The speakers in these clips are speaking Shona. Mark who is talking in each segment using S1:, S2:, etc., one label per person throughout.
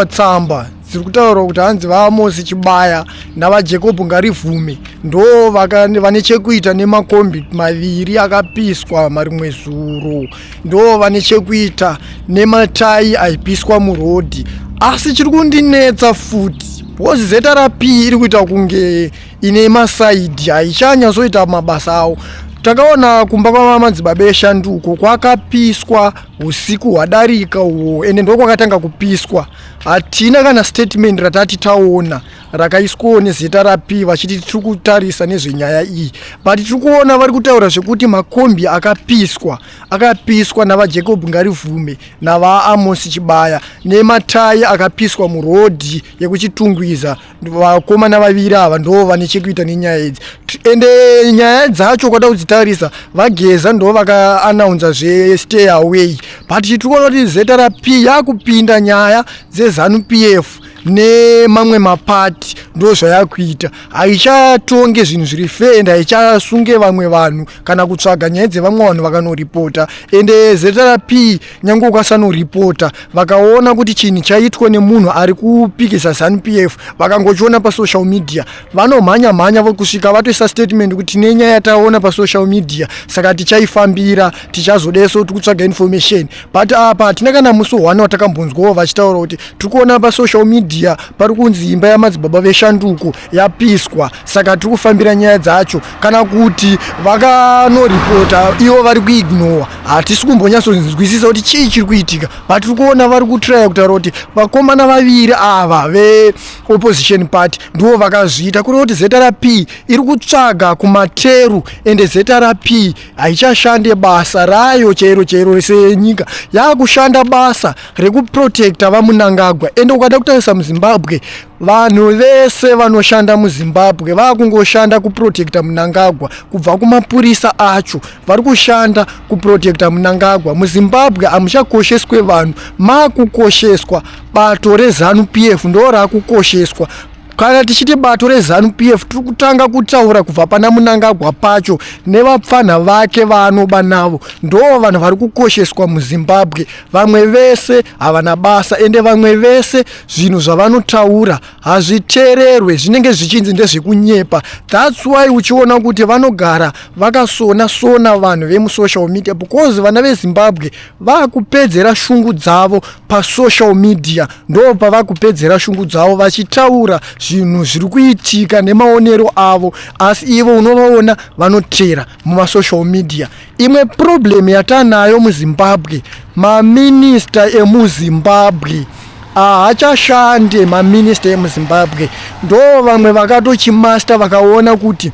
S1: tsamba dziri kutaurwa kuti hanzi vaamosi chibaya navajacob ngarivhume ndo vane chekuita nemakombi maviri akapiswa marimwe zuro ndo vane chekuita nematai aipiswa murodhi asi chiri kundinetsa futi because zrp iri kuita kunge ine masaidi haichanyasoita mabasa awo takaona kumba kwamamadzibaba eshanduko kwakapiswa usiku hwadarika uwo ende ndokwakatanga kupiswa hatina kana statement ratati taona rakaiswawo nezita rapi vachiti tiri kutarisa nezvenyaya iyi but tiri kuona vari kutaura zvekuti makombi akapiswa akapiswa navajacob ngarivhume navaamosi chibaya nematai akapiswa murodhi yekuchitungwiza vakomana vaviri ava ndoo vane chekuita nenyaya idzi ende nyaya dzacho kwada kudzitarisa vageza ndoo vakaanaunza zvestay away but tiri kuona kuti zrp yakupinda nyaya dzezanu p f nemamwe mapati ndo zvayakuita haichatonge zvinhu zviri fe and haichasunge vamwe vanhu kana kutsvaga nyaya dzevamwe vanhu vakanoripota ende zrp nyange ukasanoripota vakaona kuti chinhu chaitwa nemunhu ari kupikisa zanp f vakangochiona pasocial media vanomhanya mhanya vokusvika vatoisa statement kuti tine nyaya yataona pasocial media saka tichaifambira tichazodeso tikutsvaga information but apa hatina kana musi one watakambonzwawo vachitaura kuti tiri kuona pasocial media pari kunzi imba yamadzibaba veshanduko yapiswa saka tiri kufambira nyaya dzacho kana kuti vakanoripota ivo vari kuignowa hatisi kumbonyatsonzwisisa kuti chii chiri kuitika but tiri kuona vari kutraya kutaura kuti vakomana vaviri ava veopposition party ndivo vakazviita kureva kuti zrp iri kutsvaga kumateru ende zrp haichashande basa rayo chairo chairo rese yenyika yaakushanda basa rekuprotecta vamunangagwa ende ukada kutarisa muzimbabwe Vanhu vese vanoshanda muZimbabwe vakungoshanda kuprotecta Munangagwa kubva kumapurisa acho vari kushanda kuprotecta Munangagwa. MuZimbabwe hamuchakosheswe vanhu, makukosheswa bato reZanu PF ndo rakukosheswa kana tichiti bato rezanu p f tiri kutanga kutaura kubva pana munangagwa pacho nevapfanha vake vaanoba navo ndoo vanhu vari kukosheswa muzimbabwe vamwe vese havana basa ende vamwe vese zvinhu zvavanotaura hazvitererwe zvinenge zvichinzi ndezvekunyepa thats why uchiona kuti vanogara vakasona sona vanhu vemusocial media because vana vezimbabwe vakupedzera shungu dzavo pasocial media ndo pavakupedzera shungu dzavo vachitaura zvinhu zviri kuitika nemaonero avo asi ivo unovaona vanotera mumasocial media imwe problem yatanayo muzimbabwe maminista emuzimbabwe ahachashande maminista emuzimbabwe ndo vamwe vakatochimasta vakaona kuti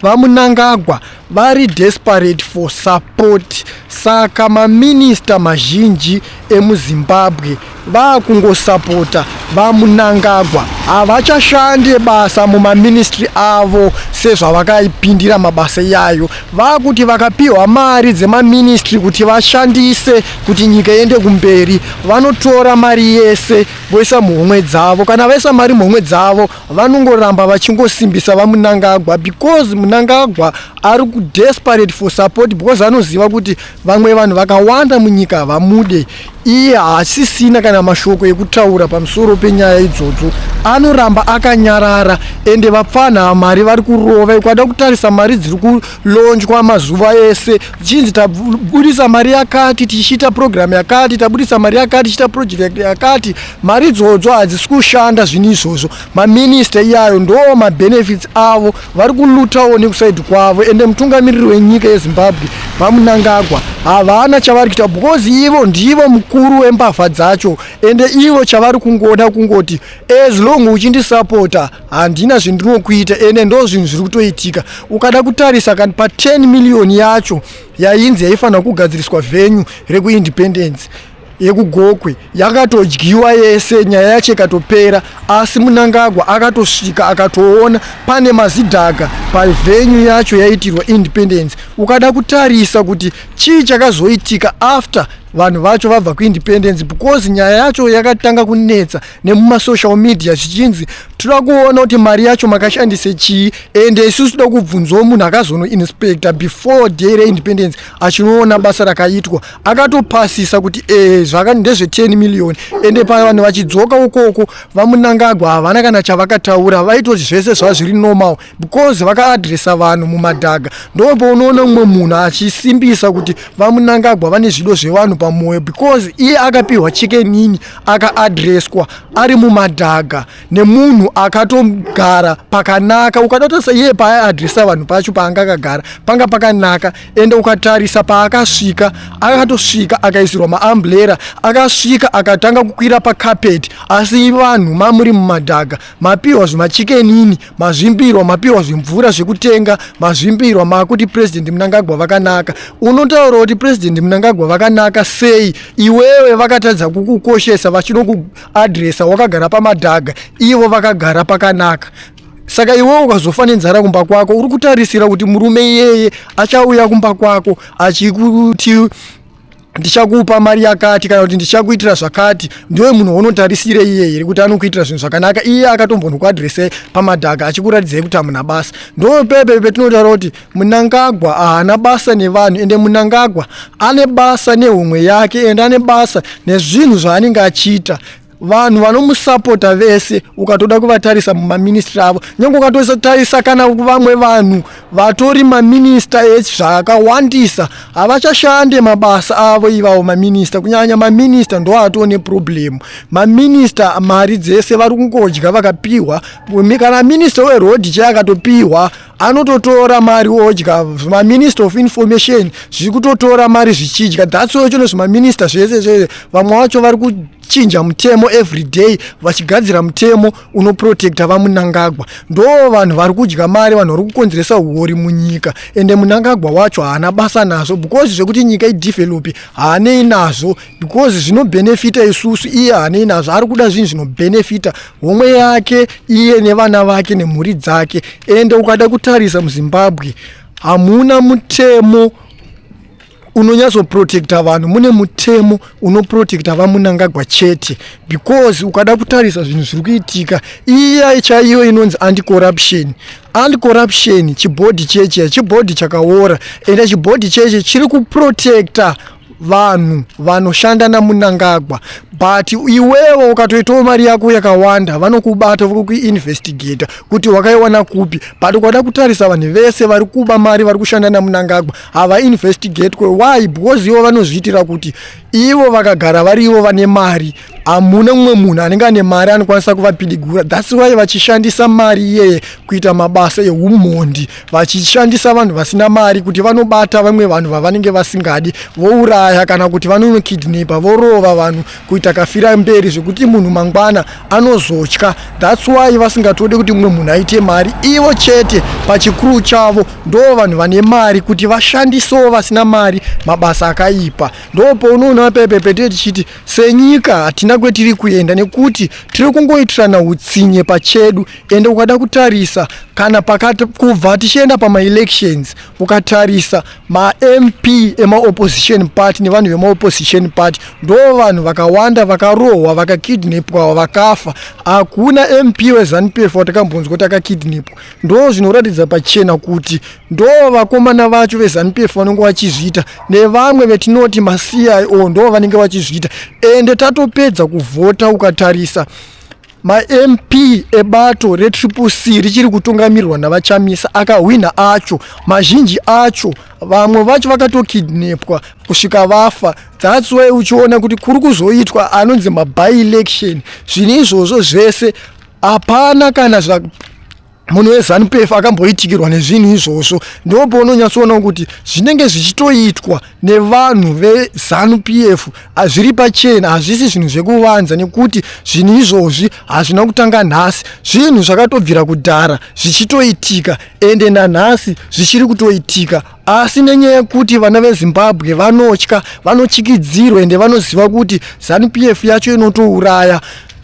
S1: vamunangagwa vari desperate for support saka maminista mazhinji emuzimbabwe vakungosapota vamunangagwa havachashande basa mumaministry avo sezvavakaipindira mabasa iyayo vakuti vakapiwa mari dzemaministry kuti vashandise kuti nyika iende kumberi vanotora mari yese voisa muhomwe dzavo kana vaisa mari muhomwe dzavo vanongoramba vachingosimbisa vamunangagwa because munangagwa ari kudesperate for support because anoziva kuti Vamwe vanhu vakawanda munyika havamude iye haasisina kana mashoko ekutaura pamusoro penyaya idzodzo anoramba akanyarara ende vapfanha mari vari kurova ikwada kutarisa mari dziri kulonjwa mazuva ese chinzi tabudisa mari yakati tichiita program yakati tabudisa mari yakati tichiita project yakati mari idzodzo hadzisi kushanda zvinhu izvozvo Maminista iyayo ndoo mabenefits avo vari kulutawo nekusaidi kwavo ende mutungamiriri wenyika yezimbabwe vamunangagwa havana chavari kuita because ivo ndivo mukuru wembavha dzacho ende ivo chavari kungoda kungoti as long uchindisapota handina zvindinokuita ende ndo zvinhu zviri kutoitika ukada kutarisa kani pa10 million yacho yainzi yaifanira kugadziriswa venyu rekuindependence yekugokwe yakatodyiwa yese nyaya yacho ikatopera asi munangagwa akatosvika akatoona pane mazidhaga pavhenyu yacho yaitirwa independence ukada kutarisa kuti chii chakazoitika after vanhu vacho vabva kuindependence because nyaya yacho yakatanga kunetsa nemumasocial media zvichinzi toda kuona kuti mari yacho makashandise chii and isusu toda kubvunzawo munhu akazonoinspector before day reindependence achinoona basa rakaitwa akatopasisa kuti ee eh, zvakani ndezve 10 million ende paya vanhu vachidzoka ukoko vamunangagwa havana kana chavakataura vaitoti zvese zvazviri normal because vakaadresa vanhu mumadhaga ndopo unoona umwe munhu achisimbisa kuti vamunangagwa vane zvido zvevanhu pamwoyo because iye akapiwa chikenini akaadreswa ari mumadhaga nemunhu akatogara pakanaka ukadatarisa iye paaadresa vanhu pacho paanga akagara panga pakanaka ende ukatarisa paakasvika akatosvika akaisirwa maamburera akasvika akatanga kukwira pakapeti asi vanhu mamuri mumadhaga mapiwa zvemachikenini mazvimbirwa mapiwa zvimvura zvekutenga mazvimbirwa maakuti purezidendi munangagwa vakanaka unotaura kuti purezidendi munangagwa vakanaka sei iwewe vakatadza kukukoshesa vachinokuadresa wakagara pamadhaga ivo vakagara pakanaka saka iwewe ukazofa nenzara kumba kwako uri kutarisira kuti murume iyeye achauya kumba kwako achikuti ndichakupa mari yakati kana kuti ndichakuitira zvakati ndiwe munhu waunotarisire iye here kuti anokuitira zvinhu zvakanaka iye akatombonokuadrese pamadhaka achikuratidzei kuti hamuna basa ndopepe petinotaura kuti munangagwa haana basa nevanhu ende munangagwa ane basa nehumwe yake ende ane basa nezvinhu zvaanenge achiita vanhu vanomusapota vese ukatoda kuvatarisa mumaministry avo nyange ukatotarisa kana vamwe vanhu vatori maminista ese zvakawandisa havachashande mabasa avo ivawo maminista kunyanya maminista ndo atoo neproblemu maminista mari dzese vari kungodya vakapiwa kana minista werodhi chai akatopiwa anototora mari odya maminista of information zviri kutotora mari zvichidya that's why chino zvimaminista zvese zvese vamwe vacho vari chinja mutemo everyday vachigadzira mutemo unoprotecta vamunangagwa ndo vanhu vari kudya mari vanhu vari kukonzeresa huori munyika ende munangagwa wacho haana basa nazvo because zvekuti nyika idevelopi haanei nazvo because zvinobhenefita isusu iye haanei nazvo ari kuda zvinhu zvinobhenefita homwe yake iye nevana vake nemhuri dzake ende ukada kutarisa muzimbabwe hamuna mutemo unonyatsoprotecta vanhu mune mutemo unoprotecta vamunangagwa chete because ukada kutarisa zvinhu zviri kuitika iya chaiyo inonzi anticorruption anticorruption chibhodhi cheche chibhodhi chakaora ende chibhodhi cheche chiri kuprotecta vanhu vanoshanda namunangagwa but iwewo ukatoitawo mari yako yakawanda vanokubata vokuinvestigata kuti wakaiwana kupi but ukada kutarisa vanhu vese vari kuba mari vari kushanda namunangagwa havainvestigate ko why because ivo vanozviitira kuti ivo vakagara vari ivo vane mari hamuna mumwe munhu anenge ane mari anokwanisa kuvapidigura thats why vachishandisa mari iyeye kuita mabasa eumhondi vachishandisa vanhu vasina mari kuti vanobata vamwe vanhu vavanenge vasingadi vouraya kana kuti vanonokidnepa vorova vanhu kuita kafira mberi zvekuti munhu mangwana anozotya thats why vasingatode kuti mumwe munhu aite mari ivo chete pachikuru chavo ndo vanhu vane mari kuti vashandisewo vasina mari mabasa akaipa ndo pounoona pepepete tichiti senyika hatina kwetiri kuenda nekuti tiri kungoitirana utsinye pachedu ende ukada kutarisa kana pakati kubva tichienda pamaelections ukatarisa mamp emaopposition party nevanhu vemaopposition party ndo vanhu vakawanda vakarohwa vakakidnepwawa vakafa hakuna mp wezanupf watakambonzwa kuti akakidnepwa ndo zvinoratidza pachena kuti ndo vakomana vacho vezanupf vanenge vachizviita nevamwe vetinoti macio ndo vanenge vachizviita ende tatopedza kuvhota ukatarisa mamp ebato retriple c richiri kutungamirwa navachamisa akahwinha acho mazhinji acho vamwe vacho vakatokidnepwa kusvika vafa thats why uchiona kuti kuri kuzoitwa anonzi maby election zvine izvozvo zvese hapana kana munhu wezanupf akamboitikirwa nezvinhu izvozvo ndopounonyatsoonawo kuti zvinenge zvichitoitwa nevanhu vezanupf zviri pachena hazvisi zvinhu zvekuvanza nekuti zvinhu izvozvi hazvina kutanga nhasi zvinhu zvakatobvira kudhara zvichitoitika ende nanhasi zvichiri kutoitika asi nenyaya yekuti vana vezimbabwe vanotya vanotyikidzirwa ende vanoziva kuti zanupf yacho inotouraya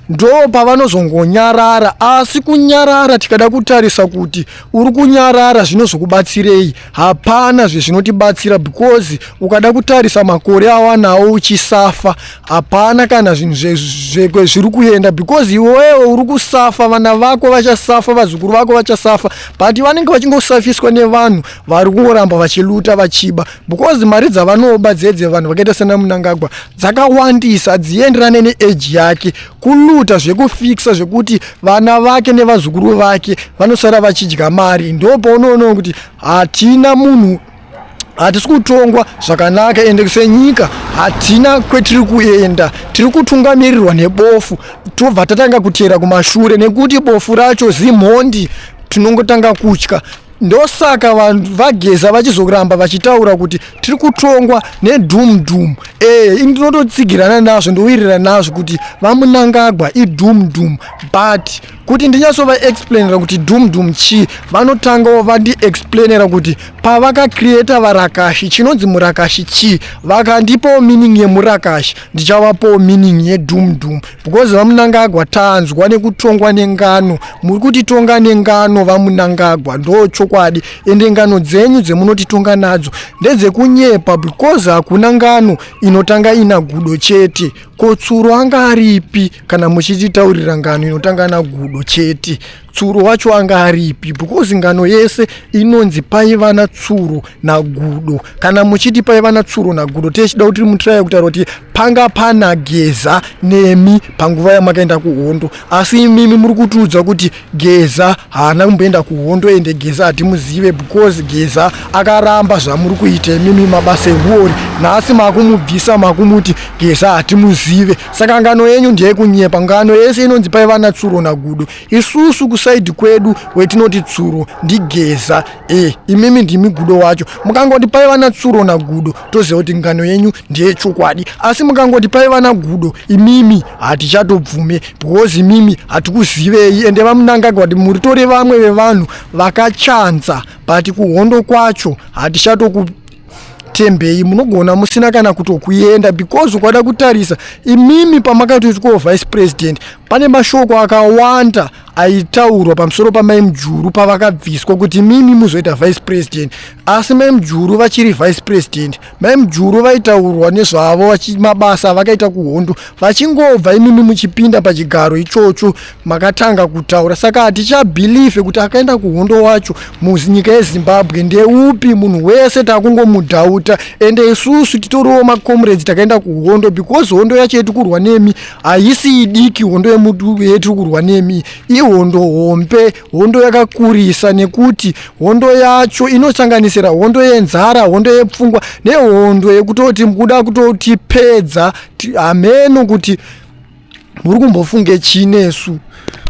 S1: ndoo pavanozongonyarara asi kunyarara tikada kutarisa kuti uri kunyarara zvinozokubatsirei hapana zvezvinotibatsira because ukada kutarisa makore awanawo uchisafa hapana kana zvinhu zvekwe zviri kuenda because iwewe uri kusafa vana vako vachasafa vazukuru vako vachasafa but vanenge vachingosafiswa nevanhu vari kungoramba vachiluta vachiba because mari dzavanoba dzedze vanhu vakaita sena munangagwa dzakawandisa dzienderane neeji yake kuluta zvekufikisa zvekuti vana vake nevazukuru vake vanosara vachidya mari ndo paunoona kuti hatina munhu hatisi kutongwa zvakanaka ende senyika hatina kwetiri kuenda tiri kutungamirirwa nebofu tobva tatanga kuteera kumashure nekuti bofu racho zimhondi tinongotanga kutya ndosaka vanhu vageza vachizoramba vachitaura kuti tiri kutongwa nedhum dhum e eh, ini ndinototsigirana nazvo ndowirirana nazvo kuti vamunangagwa idhum dhum but kuti ndinyatsovaexplainera kuti dhum dhum chii vanotangawo vandiexplainera kuti pavakacreata varakashi chinonzi murakashi chii vakandipawo meaning yemurakashi ndichavapawo meaning yedhum dhum because vamunangagwa tanzwa nekutongwa nengano muri kutitonga nengano vamunangagwa ndo chokwadi ende ngano dzenyu dzemunotitonga nadzo ndedzekunyepa because hakuna ngano inotanga ina gudo chete kotsuro anga aripi kana muchititaurira ngano inotanga nagudo chete tsuro wacho anga aripi because ngano yese inonzi paiva natsuro nagudo kana muchiti paiva natsuro nagudo tiechida kuti mutiraya kutaura kuti panga pana geza nemi panguva yamakaenda kuhondo asi imimi muri kutiudza kuti geza haana kumboenda kuhondo ende geza hatimuzive because geza akaramba zvamuri kuita imimi mabasa ehuori nhasi makumubvisa makumuti geza hatimuzive saka ngano yenyu ndeyekunyepa ngano yese inonzi paiva natsuro nagudo isusu kusaidi kwedu wetinoti tsuro ndigeza e imimi ndimi gudo wacho mukangoti paiva natsuro nagudo toziva kuti ngano yenyu ndeyechokwadi asi mukangoti paiva nagudo imimi hatichatobvume because imimi hatikuzivei ende vamunangagwa kuti muritore vamwe vevanhu vakachanza but kuhondo kwacho hatichatoku tembei munogona musina kana kutokuenda because ukada kutarisa imimi pamakatoti ko vice president pane mashoko akawanda aitaurwa pamusoro pamai mujuru pavakabviswa kuti imimi muzoita vice president asi mai mujuru vachiri vice president mai mujuru vaitaurwa nezvavo mabasa avakaita kuhondo vachingobva imimi muchipinda pachigaro ichocho makatanga kutaura saka hatichabhilive kuti akaenda kuhondo wacho munyika yezimbabwe ndeupi munhu wese takungomudhauta ende isusu titoriwo macomrades takaenda kuhondo because hondo yacho yetiri kurwa nemi haisi idiki hondo yetiri kurwa nemi ihondo hombe hondo yakakurisa nekuti hondo yacho inosanganisira hondo yenzara hondo yepfungwa nehondo yekutoti mukuda kutotipedza hameno kuti muri kumbofunge chii nesu